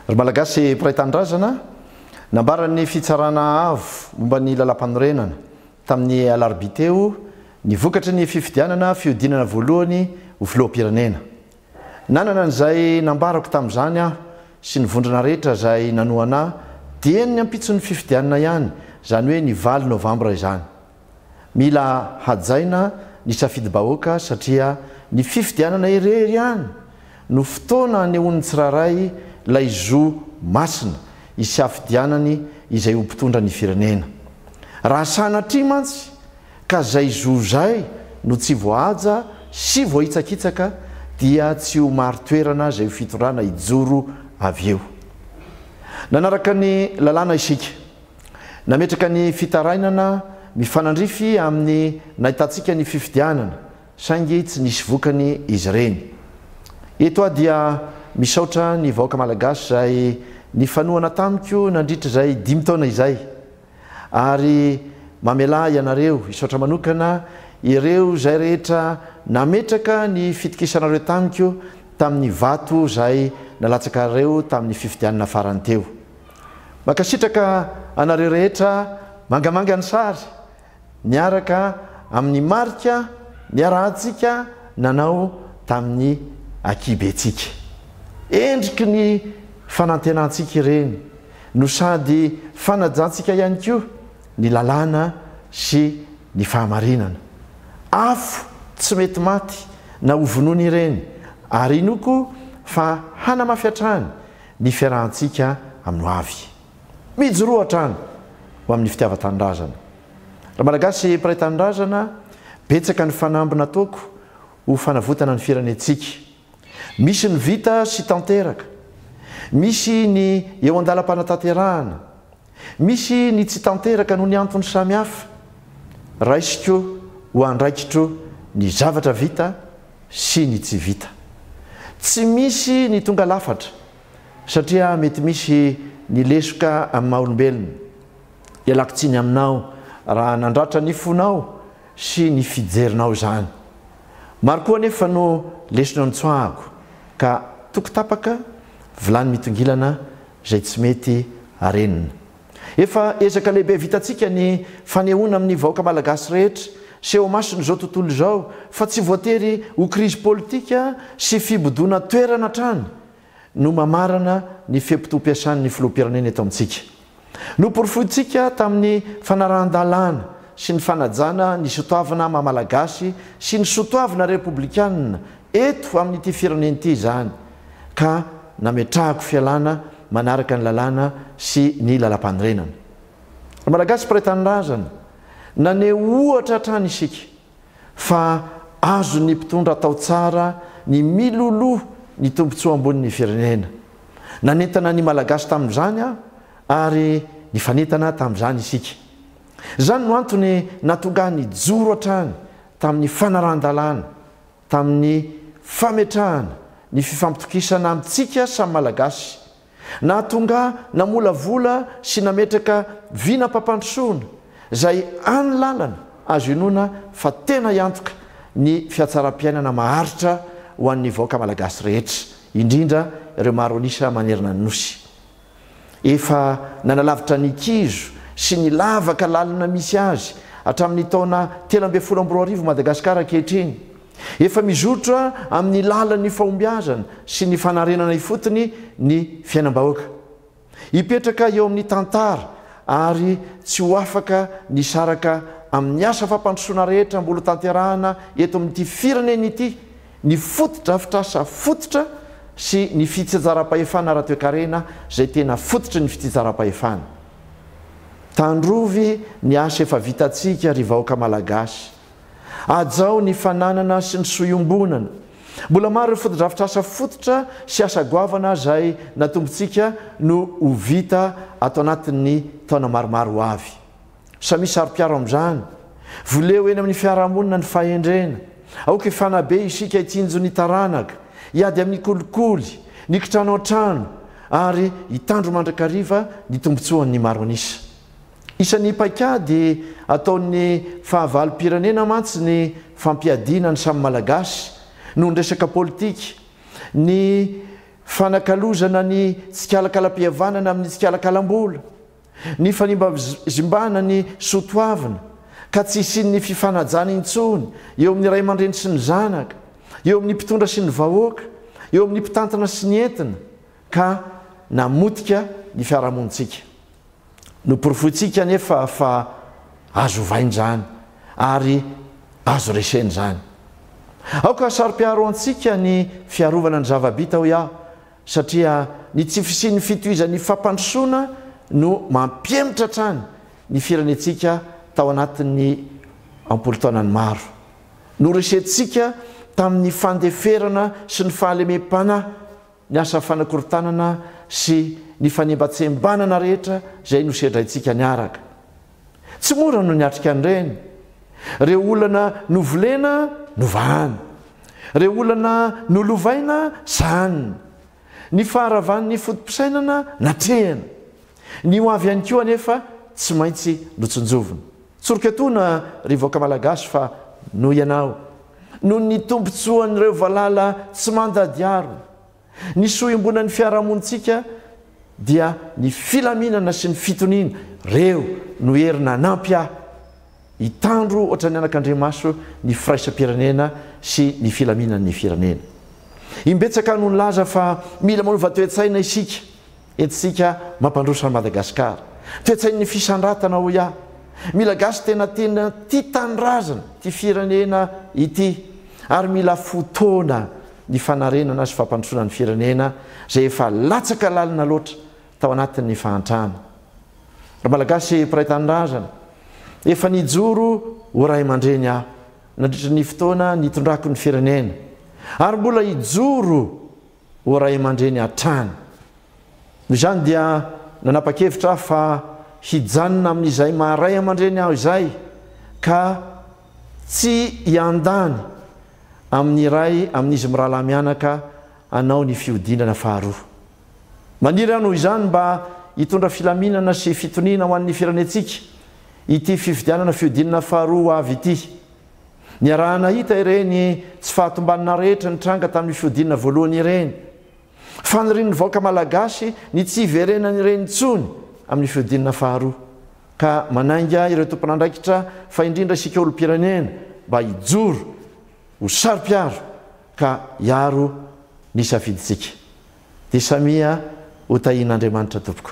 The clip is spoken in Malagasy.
Ry Malagasy mpiray tanindrazana, nambaran'ny Fitsarana Avo momba ny Lalàmpanorenana, tamin'ny alarobia teo, ny vokatry ny fifidianana fihodinana voalohany ho Filoham-pirenena. Nanana an'izay nambarako tamin'izany aho sy ny vondrona rehetra izay nanohana ahy, dieny ny ampitson'ny fifidianana ihany, izany hoe ny valo novambra izany. Mila hajaina ny safidim-bahoaka satria ny fifidianana irery ihany no fotoana anehoan'ny tsirairay ilay zo masina isiafidianany izay ho mpitondra ny firenena. Raha sanatria mantsy ka zay zo zay no tsy voahaja sy voahitsakitsaka dia tsy ho mari-toerana zay fitondrana hijoro avy eo. Nanaraka ny lalàna isika. Nametraka ny fitarainana mifanandrify amin'ny nahitantsika ny fifidianana, saingy tsy nisy vokany izy ireny. Eto aho dia misaotra ny vahoaka Malagasy izay nifanohana tamiko nandritra izay dimy taona izay, ary mamelà ianareo hisaotra manokana ireo izay rehetra nametraka ny fitokisanareo tamiko tamin'ny vato izay nalatsakareo tamin'ny fifidianana farany teo. Mankasitraka anareo rehetra mangamanga ny sary miaraka amin'ny marika niarahantsika nanao tamin'ny akibentsika. Endriky ny fanantenantsika ireny no sady fanajantsika ihany koa ny lalàna sy ny fahamarinana. Afo tsy mety maty na hovonoina ireny ary inoako fa hanamafy hatrany ny fiarahantsika amin'ny hoavy. Mijoroa hatrany ho amin'ny fitiavan-tanindrazana. Raha Malagasy mpiray tanindrazana, betsaka ny fanamby nataoko ho fanavotana ny firenentsika. Misy ny vita sy tanteraka. Misy ny eo an-dalam-panatanterahana. Misy ny tsy tanteraka noho ny antony samihafa. Raisiko ho andraikitro ny zavatra vita sy ny tsy vita. Tsy misy ny tonga lafatra satria mety misy ny lesoka amin'ny maha olombelona. Ialako tsiny aminao raha nandratra ny fonao sy ny fijerinao izany. Maro koa anefa no lesona notsoahako ka toko tapaka, vilany mitongilana izay tsy mety arenina. Efa ezaka lehibe vitantsika ny fanehoana amin'ny vahoaka malagasy rehetra sy eo amason'izao tontolo izao fa tsy voatery ho krizy politika sy fibodoana toerana hatrany no mamarana ny fe-potoam-piasan'ny filoham-pirenena eto amintsika. Noporofointsika tamin'ny fanarahan-dalàna sy ny fanajana ny sotoavina maha-malagasy sy ny sotoavina repoblikana eto amin'ity firenena ity izany. ka nametrahako fialana manaraka ny lalàna sy ny lalampanorenana. Ry Malagasy mpiray tanindrazana, naneho ohatra hatrany isika fa azon'ny mpitondra atao tsara ny miloloha ny tombontsoa ambonin'ny firenena. Nanentana ny Malagasy tamin'izany aho ary nifanentana tamin'izany isika. Izany no antony nahatonga ahy nijoro hatrany tamin'ny fanarahan-dalàna. tamin'ny fametrahana ny fifampitokisana amintsika samy Malagasy, nahatonga namolavola sy nametraka vinam-pampandrosoana izay any lalana azo inoana fa tena hiantoka ny fiatsaram-piainana maharitra ho an'ny vahoaka Malagasy rehetra, indrindra ireo maro an'isa manerana ny Nosy. Efa nanalavitra ny kizo sy ny lavaka lalina misy azy hatramin'ny taona telo ambin'ny folo amby roa arivo Madagasikara ankehitriny. Efa mizotra amin'ny lalan'ny fahombiazana sy ny fanarenana ifotony ny fiainam-bahoaka. Hipetraka eo amin'ny tantara ary tsy ho afaka ny saraka amin'ny asa fampandrosoana rehetra mbola tanterahana eto amin'ity firenena ity ny fotodrafitrasa fototra sy ny fitsinjaram-pahefana ara-toekarena izay tena fototry ny fitsinjaram-pahefana. Tandrovy ny asa efa vitantsika ry vahoaka Malagasy. Hajao ny fananana sy ny soa iombonana. Mbola maro ireo fotodrafitrasa fototra sy asa goavana izay natombontsika no ho vita ato anatin'ny taona maromaro ho avy. Samia saro-piaro amin'izany. Voleo eny amin'ny fiarahamonina ny fahendrena. Aoka hifanabe isika hitsinjo ny taranaka, hiady amin'ny kolikoly, ny kitrano an-trano, ary hitandro mandrakariva ny tombontsoan'ny maro an'isa. Isan'ny paikady ataon'ny fahavalom-pirenena mantsy ny fampiadiana ny samy Malagasy noho ny resaka politika, ny fanakalozana ny tsikalakalam-pihavanana amin'ny tsikalakalam-bola. Nifanimbazimbaana ny soa toavina, ka tsy hisian'ny fifanajana intsony eo amin'ny ray aman-dreny sy ny zanaka, eo amin'ny mpitondra sy ny vahoaka, eo amin'ny mpitantana sy ny entina, ka namotika ny fiarahamonintsika. Noporofointsika anefa fa azo ovaina izany, ary azo resena izany. Aoka hasaropiaro antsika ny fiarovana ny zava-bita, hoy aho, Satria ny tsy fisian'ny fitohizan'ny fampandrosoana no mampihemotra hatrany ny firenentsika tao anatin'ny am-polotaonany maro. Noresentsika tamin'ny fandeferana sy ny fahalemem-panahy ny asa fanakorontanana sy ny fanembatsembanana rehetra izay nosedraintsika niaraka. Tsy mora no niatrika an'ireny. Ireo olana novolena, novahana. Ireo olana nolovaina, sahanina. Ny faharavan'ny foto-pisainana, natrehina. Ny ho avy ihany koa anefa tsy maintsy notsinjovina. Tsoriko etoana, ry vahoaka Malagasy fa noho ianao, noho ny tombontsoan'ireo valala tsy mandady harona, Ny soa iombonan'ny fiarahamonintsika dia ny filaminana sy ny fitoniana. Reo no hery nanampy ahy hitandro ohatran'ny anakandriamaso ny firaisam-pirenena sy ny filaminan'ny firenena. Imbetsaka no nilaza fa mila manova toe-tsaina isika. Entintsika mampandroso an'i Madagasikara. Toe-tsain'ny fisandratana hoy aho. Mila gasy tena tena tia tanindrazana, tia firenena ity. Ary mila fotoana ny fanarenana sy fampandrosoana ny firenena izay efa latsaka lalina loatra tao anatin'ny fahantrana. Ry Malagasy mpiray tanindrazana, efa nijoro ho ray aman-dreny aho nandritra ny fotoana nitondrako ny firenena ary mbola hijoro ho ray aman-dreny hatrany. Noho izany dia nanapa-kevitra aho fa hijanona amin'izay maha ray aman-dreny aho izay ka tsy hiandany amin'ny iray amin'izy mirahalahy mianaka hanao ny fihodinana faharoa. Maniry aho noho izany mba hitondra filaminana sy fitoniana ho an'ny firenentsika ity fifidianana fihodinana faharoa ho avy ity. Niaraha-nahita ireny tsy fahatombanana rehetra nitranga tamin'ny fihodinana voalohany ireny. Fanirian'ny vahoaka malagasy ny tsy hiverenany ireny intsony amin'ny fihodinana faharoa, ka manainga ireo tompon'andraikitra fa indrindra isika olom-pirenena mba hijoro ho saro-piaro ka hiaro ny safidintsika. Dia samia ho tahian'Andriamanitra tompoko.